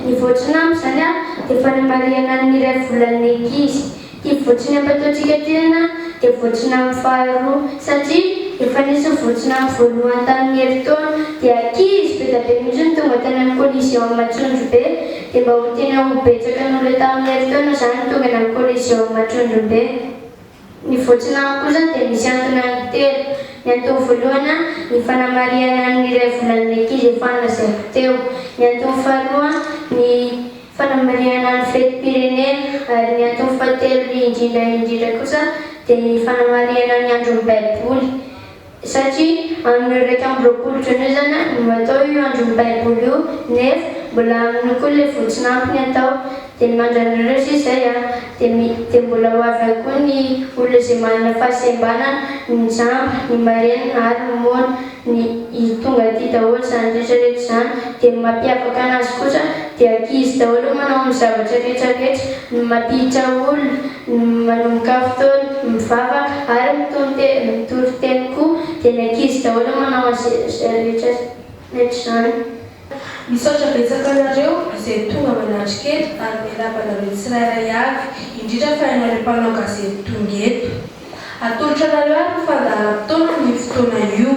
Ny voatsiny amiko izany an, dia fanamarihana ny iray volan'ny ankizy. Ity voatsiny ampataontsika ity an, dia voatsiny amin'ny faharoa, satria efa nisy voatsiny amin'ny voalohany tamin'ny herintaona, dia ankizy be dia be mihitsy no tonga tany amin'ny collision amin'ny Matsondrobe, dia mba ho tena ho betsaka noho ilay tamin'ny herintaona izany ny tongana amin'ny collision amin'ny Matsondrobe. Ny voatsinanako kosa dia misy antony anaky telo. Ny antony voalohana, ny fanamarihana ny iray volan'ny ankizy efa lazaiko teo. Ny antony faharoa, ny fanamarihana ny fetim-pirenena. Ary ny antony fahatelo indrindra indrindra kosa dia ny fanamarihana ny andron'ny Baiboly. Satria amin'io iraika amby roapolo jona io izany a, no atao io andron'ny baiboly io, nefa mbola amin'io koa ilay votsin'ampiny atao, dia ny mandran'ireo sisa izay a, dia mi, dia mbola ho avy ao koa ny olona izay manana fahasembana ny mijamba, ny marenina ary ny moana, ny, i, tonga aty daholo izany rehetra rehetra izany, dia ny mampiavaka anazy kosa dia ankizy daholo manao ny zavatra rehetra rehetra, ny mampiditra olona, Ny manomboka amin'ny fotoana mivavaka ary mitory teny koa dia ny ankizy daholo no manao an'izay rehetra izany. Misaotra betsaka anareo izay tonga manatrika eto ary miarahaba anareo tsirairay avy, indrindra fa ianareo mpanao gazety tonga eto. Atolotra anareo ary ho fandaharam-potoana amin'io fotoana io.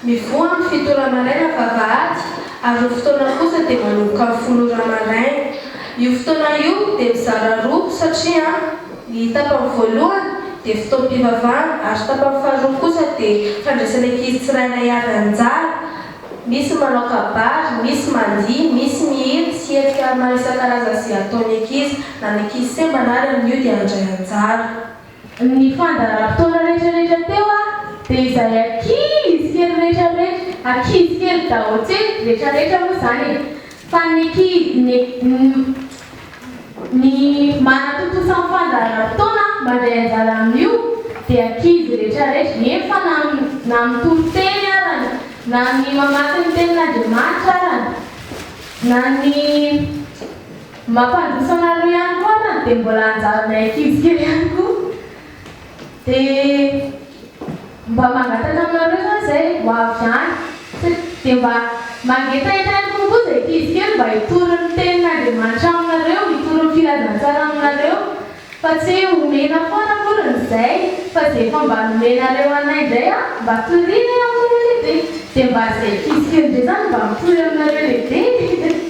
Mivoha amin'ny fito ora maraina vavahady ary io fotoana kosa dia manomboka amin'ny folo ora maraina. Io fotoana io dia mizara roa satria ny tapany voalohany dia fotoam-pivavahana ary tapany faharoa kosa dia fandraisana ankizy tsirairay avy anjara. Misy manao kabary, misy mandihy, misy mihira sy hetsika maro isan-karazany izay ataon'ny ankizy na ny ankizy sembana ary amin'io dia handray anjara. Ny fandaharam-potoana rehetrarehetra teo a dia izay ankizy kely rehetrarehetra, ankizy kely daholo, tsy hoe rehetrarehetra moa izany e, fa ny ankizy, ny ny manatontosa ny fandaharam-potoana mandray anjara amin'io dia ankizy rehetrarehetra, eny fa na na mitory teny arany, na ny mamaky ny tenin'Andriamanitra arany, na ny. Mampandroso anareo ihany koa aho dia mbola anjaranay ankizy kely ihany koa dia mba mangataka aminareo zany zay ho avy any dia mba mangetaheta ihany kokoa zay ankizy kely mba hitory ny tenin'Andriamanitra aminareo, hitory ny filazantsara aminareo fa tsy hoe omena foana akory ny zay fa zay efa mba nomenareo anay indray a mba toriana e aminareo lehibe dia mba zay ankizy kely indray zany mba mitory aminareo lehibe e.